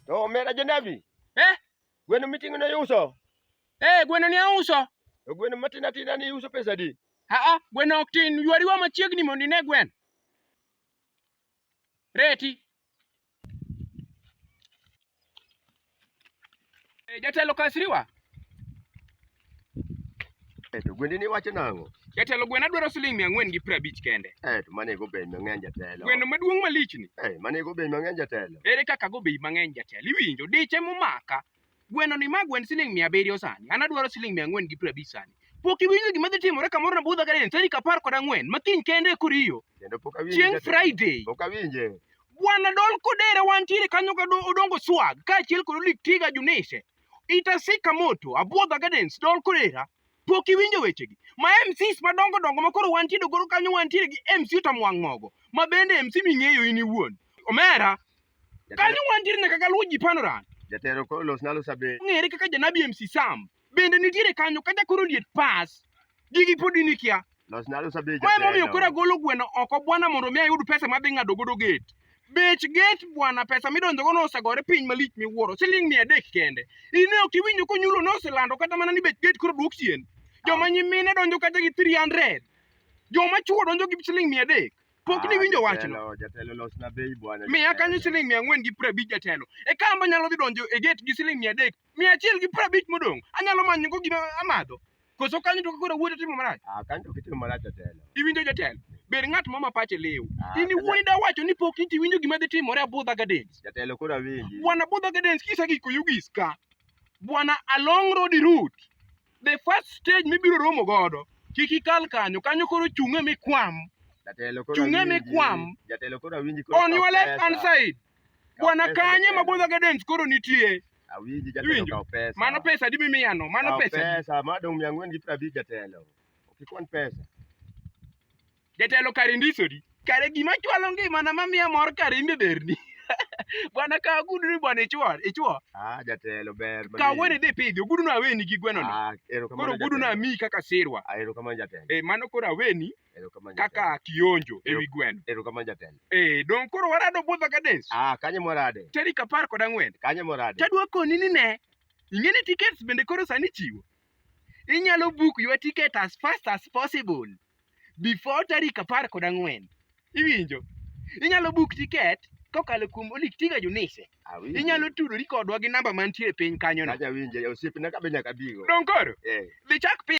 To omera janabi. Eh? Gweno miting'o ne iuso? Eh, gweno ne auso. To gweno matin atina ni iuso pesa di? Aa, gweno ok tin. Ywariwa machiegni mondo ine gweno. Reti. E, jatelo Kasriwa. Eto gwendi ni wacho nang'o? Jatelo gwena dwaro siling mia ang'wen gi piero abich kende. Eto mane go bei mang'eny jatelo. Gweno maduong' malichni. Eh, mane go bei mang'eny jatelo. Ere kaka go bei mang'eny jatelo? Iwinjo diche momaka. Gweno ni ma gwend siling mia abiriyo sani, an adwaro siling mia ang'wen gi piero abich sani. Pok iwinjo gima dhi timore kamoro Nabudha Garden tarik apar kod ang'wen ma kiny kende e Koriyo, Kendo pok awinje. chieng' jatelo. Friday. Pok awinje. Bwana Dol Kodere wantiere kanyo ka do- Odongo Swag kaachiel kod Olik Tiga Junise. Itasika Moto, Abwodha Gardens, Dol Kodera. Pok iwinjo wechegi. Ma MCs madongo dongo ma koro wantie dogoro kanyo wantiere gi MC Utamwang' Mogo ma bende MC ming'eyo in iwuon. Omera, Kanyo wantiere nyaka galuwo ji panorant. Jatero koro los nalo sabe. Ng'ere kaka janabi MC Sam. Bende nitiere kanyo kata koro liet pas. Gigi pod in ikia. Los nalo sabe jatero. Mae momiyo koro agolo gweno oko bwana mondo mi ayud pesa madhi ng'ado godo gate. Bech gate bwana pesa midonjo go nosegore piny malich miwuoro. Siling mia adek kende. In ne ok iwinjo konyulo noselando kata mana ni bech gate koro duok chien. Joma nyimine donjo kata gi 300. Joma chuo donjo gi siling mia adek. Pok ah, niwinjo wachno. Jatelo losna bei bwana. Miya kanyo siling mia ang'wen gi piero abich jatelo. E kamba nyalo dhi donjo e gate gi siling mia adek. Mia achiel gi piero abich modong'. Anyalo manyo go gima amadho. Koso kanyo to koro wuoto timo marach. Ah, kanyo to kitimo marach jatelo. Iwinjo jatelo. Ber ng'at mama pache lew. Ah, In wuoyi da wacho ni pok inti winjo gima dhi timore Abudha Gardens. Jatelo koro awinji. Bwana Abudha Gardens kisa giko yugi iska. Bwana Along Road Route. the first stage mibiro romo godo kik ikal kanyo kanyo koro chung'e mikwam chung'e mikwam on your left hand side bwana kanye ma bodho gardens koro nitie awinji jatelo pesa mano pesa di mimiyano mano pesa pesa madong' mia ang'wen gi prabich jatelo okikwan pesa Jatelo kare ndisori. Kare gima chwalo ngimana mamiya mor kare imbe berni. Bwana ka gudu ni bwana ichwo, ichwo. Ah, jatelo ber. Ka wene de pidhi, gudu na weni gi gweno no. Ah, erokamano. Koro gudu na mi kaka sirwa. Ah, erokamano jatelo. Eh, mano koro aweni. Erokamano. Kaka kionjo e wi gweno. Erokamano jatelo. Eh, don koro warado budho ka dance. Ah, kanye morade. Teri ka par kod ang'wen. Kanye morade. Tadwa koni ni ne. Ingene tickets bende koro sani chiwo. Inyalo book your ticket as fast as possible. before tarik apar kod ang'wen iwinjo inyalo book tiket kokalo kuom Olick Tiga Junise Awinje. inyalo tudori kodwa gi namba mantie piny kanyono Aja winje osiepna kabe nyaka bigo. dong koro Eh. dhi chak piny